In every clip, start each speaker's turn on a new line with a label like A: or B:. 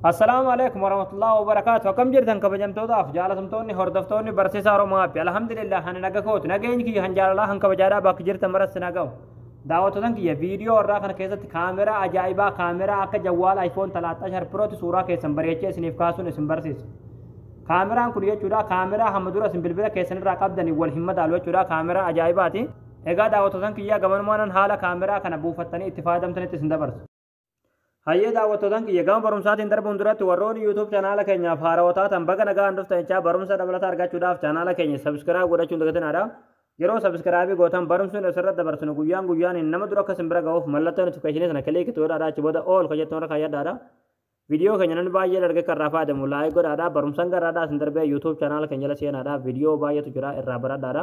A: Assalaamu alaikum warahmatullahi wabarakaatu akkam jirtan kabajamtootaaf jaalatamtoonni hordoftoonni barsiisaa Oromoo Haappi alhamdulillah ani naga kooti nageenyi kiyya kan jaalalaa kan kabajaadhaa bakka jirtan maratti na ga'u daawwattotan kiyya viidiyoo irraa kana keessatti kaameraa ajaa'ibaa kaameraa akka jawwaala iPhone 13 Pro'tti suuraa keessan bareechee isiniif kaasuun isin barsiisa kaameraan kun jechuudha kaameraa hamma dura isin bilbila keessan irraa qabdanii wal hin madaalu jechuudha kaameraa ajaa'ibaati egaa daawwattotan kiyya gamanumaan haala kaameraa kana buufattanii itti fayyadamtanitti isin dabarsu Hayyee daawwattootaan kiyya gama barumsaatiin darbuun duratti warroonni YouTube chanaala keenyaaf haarawaa taatan baga nagaan dhuftan jechaa barumsa dabalataa argachuudhaaf chanaala keenya sabiskiraayib godhachuun dagatinaadha. Yeroo sabiskiraayibii gootan barumsi nuti asirratti dabarsinu guyyaan guyyaaniin nama dura akka simbira ga'uuf mallattoo notifikashinii sana kiliiki itti godhaadha achi booda ool kan jettu irra kaayyadhaadha. Viidiyoo keenya namni baay'ee dargee kan irraa fayyadamu laayik godhaadha. Barumsaan garaadhaa isin darbee YouTube chanaala keenya jala seenaadha. Viidiyoo baay'eetu jira irraa baradhaadha.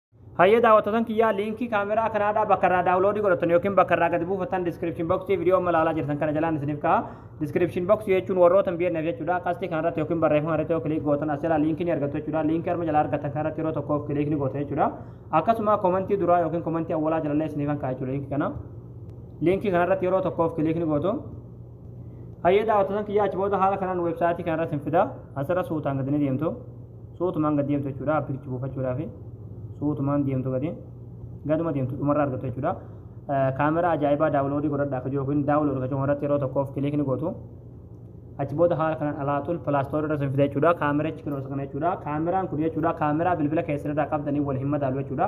A: Hayyee daawwattotan kiyyaa liinkii kaameraa kanaadhaa bakka irraa daawuloodii godhatan yookiin bakka irraa gadi buufatan diskiripshin boksii viidiyoo amma ilaalaa jirtan kana jalaan isiniif ka'a. Diskiripshin boksii jechuun warroota hin beekneef jechuudha. Qastii kanarratti yookiin barreeffama irratti yoo kiliik gootan as jalaa liinkii ni argattu jechuudha. Liinkii arma jalaa argatan kanarratti yeroo tokkoof kiliik ni gootan jechuudha. Akkasuma komantii duraa yookiin komantii awwalaa jalallee isiniif kan ka'a jechuudha liinkii kana. Liinkii kanarratti yeroo tokkoof kiliik ni gootu. Hayyee daawwattoota kiyyaa achi booda haala kanaan weebsaayitii kana irratti hin fidaa asirra suutaan gadi ni deemtu suutumaan gad deemtu jechuudha appilichi buufachuudhaaf suutumaan deemtu gadi gaduma deemtu dhumarra argattu jechuudha. Kaameraa ajaa'ibaa daawuloodii godhadhaa akka jiru yookiin daawuloodii akka jiru irratti yeroo tokkoof kiliik ni gootu. Achi booda haala kanaan alaaxul pilaastoor irra sin fida jechuudha. Kaameraa achi kana jechuudha. Kaameraan kun jechuudha kaameraa bilbila keessan irraa qabdanii wal hin madaalu jechuudha.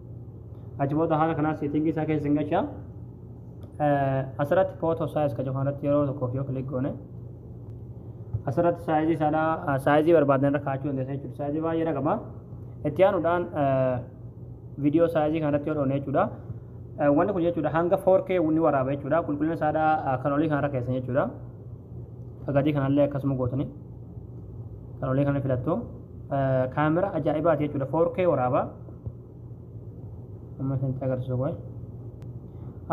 A: Achi booda haala kanaa seetingii isaa keessa hin galchaa. Asirratti footoo saayiz kan jedhamu irratti yeroo tokkoof yoo kilik goone asirratti saayizii isaadhaa saayizii barbaadan irra kaa'achuu dandeessa jechuudha. Saayizii baay'ee irra qaba. Itti aanuudhaan viidiyoo saayizii kanarratti yoo dhoone jechuudha. Wanni kun jechuudha hanga 4K ni waraaba jechuudha. Qulqullina isaadhaa kan olii kanarra keessan jechuudha. Gadii kanallee akkasuma gootanii kan olii kana filattu. Kaamera ajaa'ibaati jechuudha. 4K waraaba. amma isinitti agarsiisu kun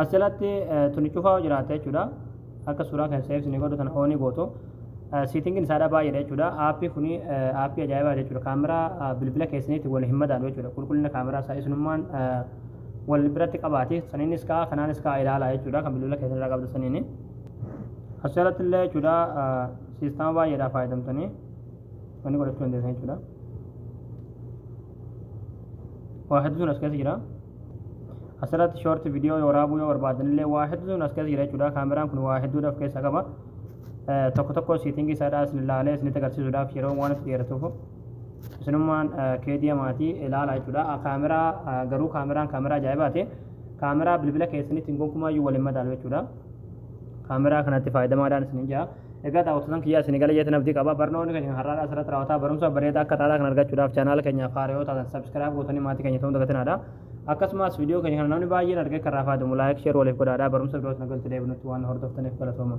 A: asirratti tuni cufaa jiraata jechuudha akka suuraa kan seefsi ni godhu tana oonii gootu siitingin isaadha baay'eedha jechuudha aappii kuni aappii ajaa'ibaa jechuudha kaameraa bilbila keessaniitti wal hin madaalu jechuudha qulqullina kaameraa isaa isinummaan wal biratti qabaati saniinis kaa kanaanis kaa ilaalaa jechuudha kan bilbila keessan irraa qabdu saniini asirratti illee jechuudha siistama baay'eedhaa fayyadamtanii wanni godhachuu dandeessan jechuudha. waa hedduun as keessa jira asirratti shoorti viidiyoo waraabuu yoo barbaadan illee waa hedduun as keessa jira jechuudha kaameraan kun waa hedduudha of keessaa qaba tokko tokko siitingii isaadhaa isin ilaalee isinitti agarsiisuudhaaf yeroo waan itti dheeratuuf isinummaan keediya maatii ilaala jechuudha kaameraa garuu kaameraan kaameraa ajaa'ibaati kaameraa bilbila keessanitti gonkumaa iyyuu waliin madaalu jechuudha kaameraa kanatti faayidamaadhaan isin jira Egaa daawwattoota kiyyaa isin gala jeetan abdii qaba. Barnoonni keenya har'aa asirratti raawwataa barumsa bareedaa akka taataa kan argachuudhaaf chaanaala keenya faaraa yoo taatan sabskiraayib gootanii maatii keenya ta'uun dagatinaadha. Akkasumas viidiyoo keenya kana namni baay'een argee kan raafaa deemu laayik sheer waliif godhaadha. Barumsa biroos nagalti deebinutti waan hordoftaniif galatooma.